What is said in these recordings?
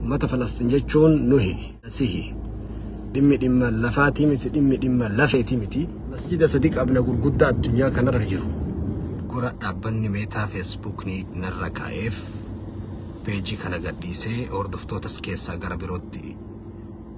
Ummata Falasxiin jechuun nuhi, Masihi. Dhimmi dhimma lafaatii miti, dhimmi dhimma lafeetii miti. Masjida sadi qabna gurguddaa addunyaa kanarra jiru. Gora dhaabbanni meetaa feesbuukni narra kaa'eef peejii kana gadhiisee hordoftootas keessaa gara birootti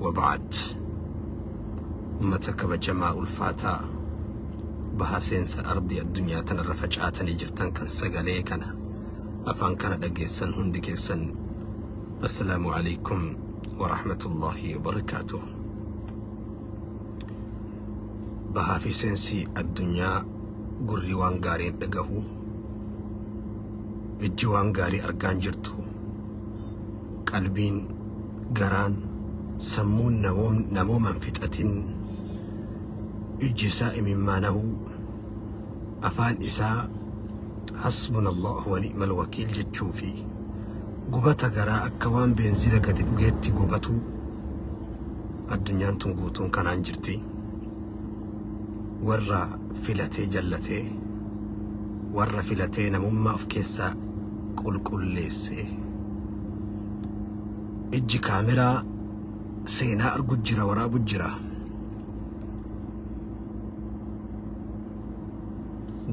Wabaad. Ummata kabajamaa ulfaataa baha seensa ardii addunyaa tanarra facaatanii jirtan kan sagalee kana afaan kana dhageessan hundi keessan assalaamu alaikum warahmatullaahi wabarakaatuh bahaa fi seensi addunyaa gurri waan gaarii hin dhagahu ijji waan gaarii argaan jirtu qalbiin garaan sammuun namoom namooman fixatin ijji isaa imimmaanahuu afaan isaa hasbunallahu wa ni'mal wakiil jechuu fi gubata garaa akka waan beenzila gadi dhugeetti gubatuu addunyaan tun guutuun kanaan jirti warra filatee jallatee warra filatee namummaa of keessaa qulqulleessee Ijji kaameraa seenaa argu jira waraabu jira.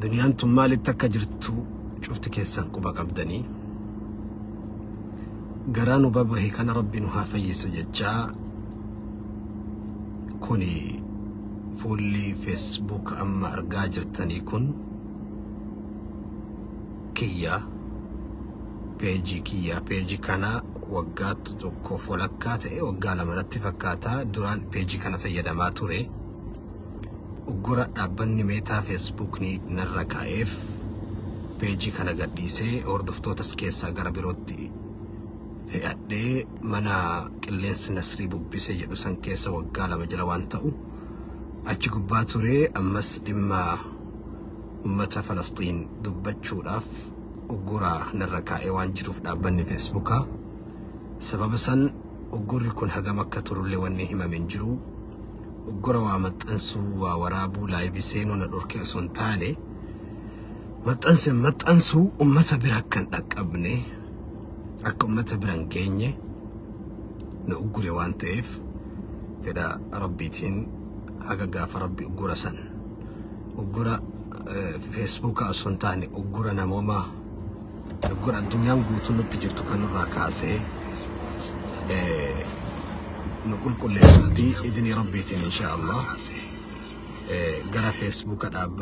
Duniyaan tun maalitti akka jirtu cufti keessan quba qabdanii. Garaa nu babahe kana rabbi nu haa fayyisu jechaa kuni fuulli feesbuuk amma argaa jirtanii kun. kiyyaa peejii kiyyaa peejii kana waggaa tokkoof walakkaa ta'e waggaa lama natti fakkaata duraan peejii kana fayyadamaa ture uggura dhaabbanni meetaa feesbuukni narra kaa'eef peejii kana gadhiisee hordoftootas keessaa gara birootti fe'adhee mana qilleensi nasrii bubbise jedhu san keessa waggaa lama jala waan ta'u achi gubbaa ture ammas dhimma ummata Falasxiin dubbachuudhaaf ugguraa narra kaa'ee waan jiruuf dhaabbanni Feesbuukaa sababa san uggurri kun hagam akka turullee wanni himame hin jiru. Uggura waa maxxansuu, waa waraabuu, laayivii seenuu na dhorkee osoo hin taane maxxanse maxxansuu ummata bira akka hin dhaqqabne akka ummata bira hin geenye na uggure waan ta'eef fedha rabbiitiin haga gaafa rabbi uggura san uggura feesbuukaa osoo hin taane uggura namoomaa uggura addunyaan guutuu nutti jirtu kanarraa kaasee eh, nu qulqulleessuuti idinii rabbiitiin insha Allah eh, gara feesbuuka dhaab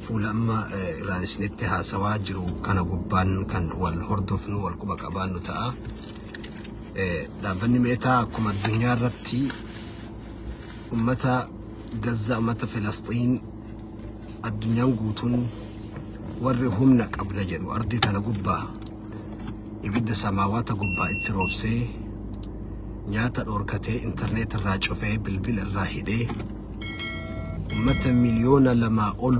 fuula amma eh, irraan isinitti haasawaa jiru kana gubbaan kan wal hordofnu wal quba qabaannu ta'a. Eh, Dhaabbanni meetaa akkuma addunyaa irratti ummata Gazzaa ummata Filasxiin addunyaan guutuun warri humna qabna jedhu ardii tana gubbaa ibidda samaawaata gubbaa itti roobsee nyaata dhoorkatee intarneet irraa cufee bilbila irraa hidhee ummata miliyoona lamaa ol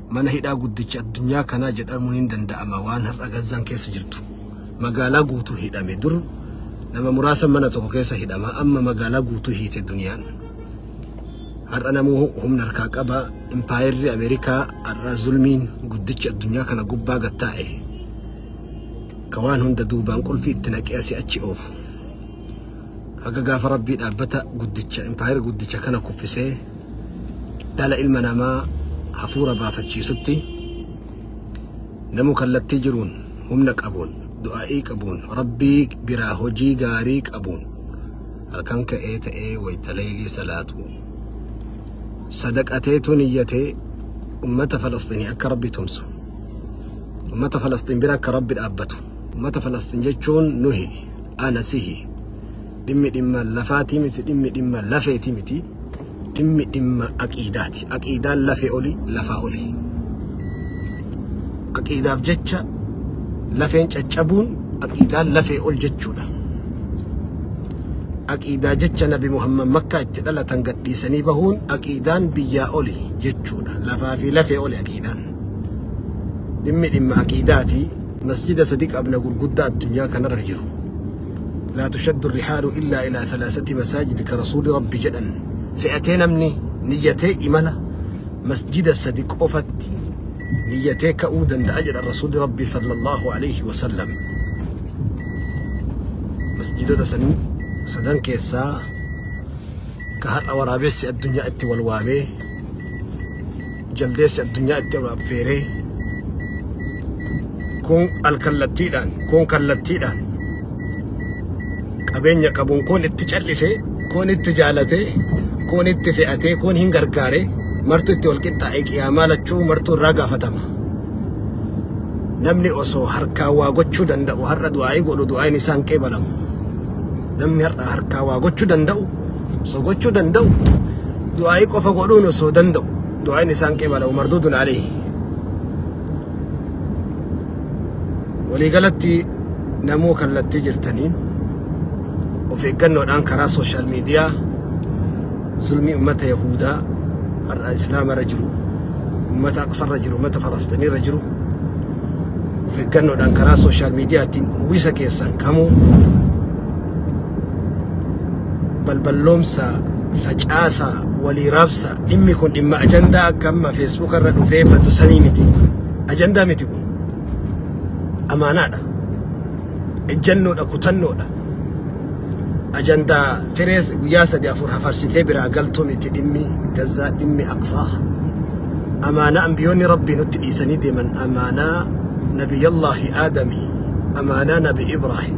mana hidhaa guddicha addunyaa kanaa jedhamuun hin danda'ama waan har'a Gazzaan keessa jirtu. Magaalaa guutuu hidhame dur nama muraasa mana tokko keessa hidhama amma magaalaa guutuu hiite duniyaan. Har'a namuu humna harkaa qaba impaayerri Ameerikaa har'a zulmiin guddichi addunyaa kana gubbaa gattaa'e. Ka waan hunda duubaan qulfii itti naqee asii achi oofu. haga gaafa rabbii dhaabbata guddicha impaayera guddicha kana kuffisee dhala ilma namaa hafuura baafachiisutti namu kallattii jiruun humna qabuun du'aa'ii qabuun rabbii biraa hojii gaarii qabuun halkan ka'ee ta'ee wayta leeylii salaatu sadaqateetu niyyatee ummata falasxiinii akka rabbi tumsu ummata falasxiin bira akka rabbi dhaabbatu ummata falasxiin jechuun nuhi ana sihi dhimmi dhimma lafaatii miti dhimmi dhimma lafeetii miti dhimmi dhimma aqiidaati aqiidaan lafee oli lafaa oli aqiidaaf jecha lafeen caccabuun aqiidaan lafee ol jechuudha aqiidaa jecha nabi muhammad makkaa itti dhalatan gadhiisanii bahuun aqiidaan biyyaa oli jechuudha lafaa fi lafee oli aqiidaan dhimmi dhimma aqiidaati Masjida sadi qabna gurgudda addunyaa kanarra jiru. Laa tushaddu rihaalu illaa ilaa thalaasati masaajid ka rasuuli rabbi jedhan fe'atee namni niyyatee imala masjida sadi qofatti niyyatee ka'uu danda'a jedhan rasuuli rabbi sallallahu alayhi wasallam. Masjidota san sadan keessaa ka har'a waraabessi addunyaa itti wal waamee jaldeessi addunyaa itti ol affeeree kun alkallattiidhaan kun kallattiidhaan qabeenya qabuun kun itti cal'ise kun itti jaalate kun itti fe'ate kun hin gargaare martu itti wal qixxaa'e qiyaamaa lachuu martuu irraa gaafatama. Namni osoo harkaa waa gochuu danda'u har'a du'aa'ii godhu du'aa'iin isaan qeebalamu. Namni har'a harkaa waa gochuu danda'u osoo gochuu danda'u du'aa'ii qofa godhuun osoo danda'u du'aa'iin isaan qibala umarduudun alee waliigalatti namuu kallattii jirtaniin of eeggannoodhaan karaa sooshaal miidiyaa zulmii ummata yahuudaa har'a islaama irra jiru ummata aqsa irra jiru ummata falasxinii irra jiru of eeggannoodhaan karaa sooshaal miidiyaa ittiin uwwisa keessan kamuu balballoomsa facaasa walii raabsa dhimmi kun dhimma ajandaa akka amma feesbuuka irra dhufee badu sanii miti ajandaa miti kun amaanaadha ejjannoodha kutannoodha ajandaa firees guyyaa sadi afur hafarsitee biraa galtuu miti dhimmi gazzaa dhimmi aqsaa amaanaa ambiyoonni rabbii nutti dhiisanii deeman amaanaa nabiyyallaahi aadamii amaanaa nabi ibraahim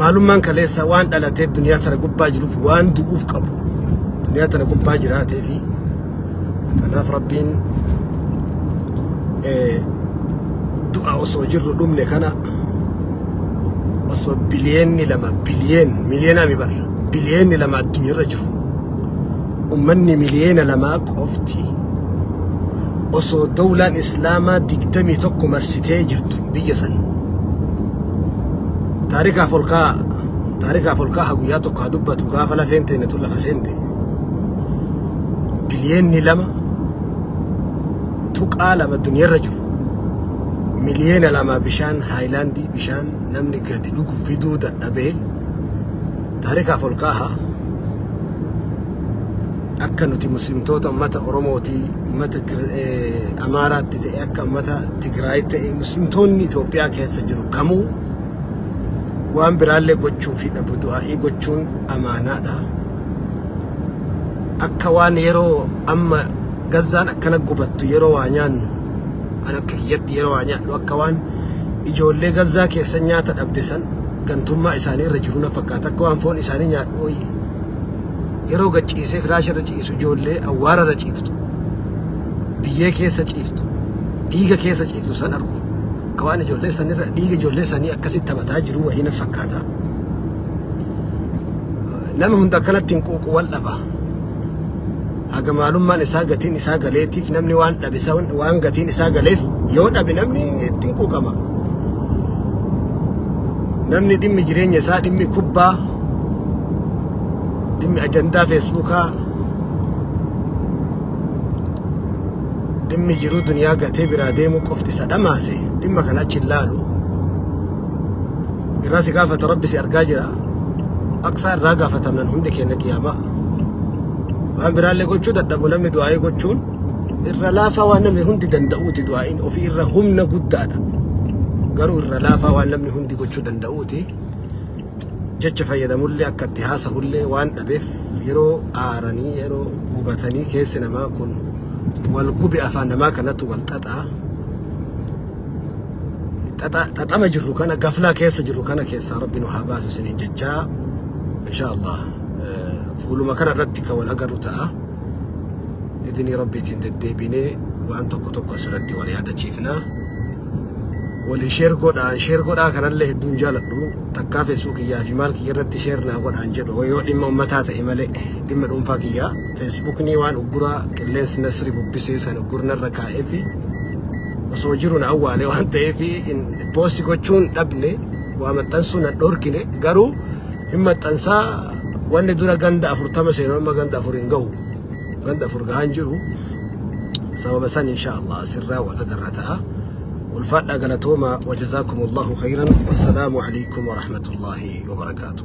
Maalummaan kaleessaa waan dhalateef duniyaa tana gubbaa jiruuf waan du'uuf qabu. Duniyaa tana gubbaa jiraatee fi kanaaf rabbiin eh, du'a osoo jirru dhumne kana osoo biliyeenni lama biliyeen miliyeenaa mi barra biliyeenni lama addunyaarra jiru Ummanni miliyeena lamaa qofti osoo dawlaan islaamaa digdamii tokko marsitee jirtu biyya san taarikaaf ol kaa'a taarikaaf ol kaa'a guyyaa tokko haa dubbatu gaafa lafeen teenya tun lafa seente biliyeenni lama tuqaa lama duniyarra jiru miliyeena lama bishaan haayilaandii bishaan namni gadi dhugu fiduu dadhabee Taarikaaf ol kaaha akka nuti muslimtoota ummata Oromootii ummata Kir- eh, Amaaraatti ta'e akka ummata Tigraay ta'e muslimtoonni Itoophiyaa keessa jiru kamuu waan biraallee gochuu fi dhabu du'aa'ii gochuun amaanaadha. Akka waan yeroo amma gazzaan akkana gubattu yeroo waa nyaannu An akka kiyyatti yeroo waa nyaadhu akka waan ijoollee gazzaa keessa nyaata dhabde san gantummaa isaanii irra jiru na fakkaata akka waan foon isaanii nyaadhu wayii. Yeroo gachiisee firaasha irra ciisu ijoollee awwaara irra ciiftu biyyee keessa ciiftu dhiiga keessa ciiftu san argu akka waan ijoollee sanirra dhiiga ijoollee sanii akkasitti taphataa jiru wayii na fakkaata. Nama hunda akkanatti hin quuqu wal dhaba. haga maalummaan isaa gatiin isaa galeetiif namni waan dhabe isa waan gatiin isaa galeef yoo dhabe namni ittiin quuqama. Namni dhimmi jireenya isaa dhimmi kubbaa dhimmi ajandaa feesbuukaa dhimmi jiruu duniyaa gatee biraa deemuu qofti isa dhamaase dhimma kana achi hin laalu. Irraa si gaafata rabbi si argaa jira. Aqsaa irraa gaafatamnan hundi keenya qiyaamaa. Waan biraallee gochuu dadhabu namni du'aa'ii gochuun irra laafaa waan namni hundi danda'uuti du'aa'iin ofii irra humna guddaadha. Garuu irra laafaa waan namni hundi gochuu danda'uuti. Jecha fayyadamullee akka itti haasa'ullee waan dhabeef yeroo aaranii yeroo gubatanii keessi namaa kun wal gube afaan namaa kanatu wal xaxaa. Xaxa- Xaxama jirru kana gaflaa keessa jirru kana keessaa rabbi nu haa baasu isiniin jechaa. Inshaa Allah. Fuuluma kana irratti kan wal agarru ta'a. Idinii rabbiitiin deddeebinee waan tokko tokko asirratti wal yaadachiifna. Walii sheer godhaan sheer godhaa kanallee hedduun jaaladhu takkaa feesbuuk kiyyaa fi maal kiyya irratti sheer naa godhaan jedhu yoo dhimma ummataa ta'e malee dhimma dhuunfaa kiyyaa feesbuukni waan ugguraa qilleensi nasri bubbisee san uggurnarra kaa'ee fi osoo jiru na awwaale waan ta'eef poosti gochuun dhabne waa maxxansuu na dhorkine garuu hin maxxansaa wanni dura ganda afurtama seenu amma ganda afur hin gahu ganda afur gahaan jiru sababa san insha allah asirraa wal agarra ta'a ulfaadhaa galatooma wajazaakum allahu khayran wassalaamu alaykum warahmatullaahi wabarakaatuh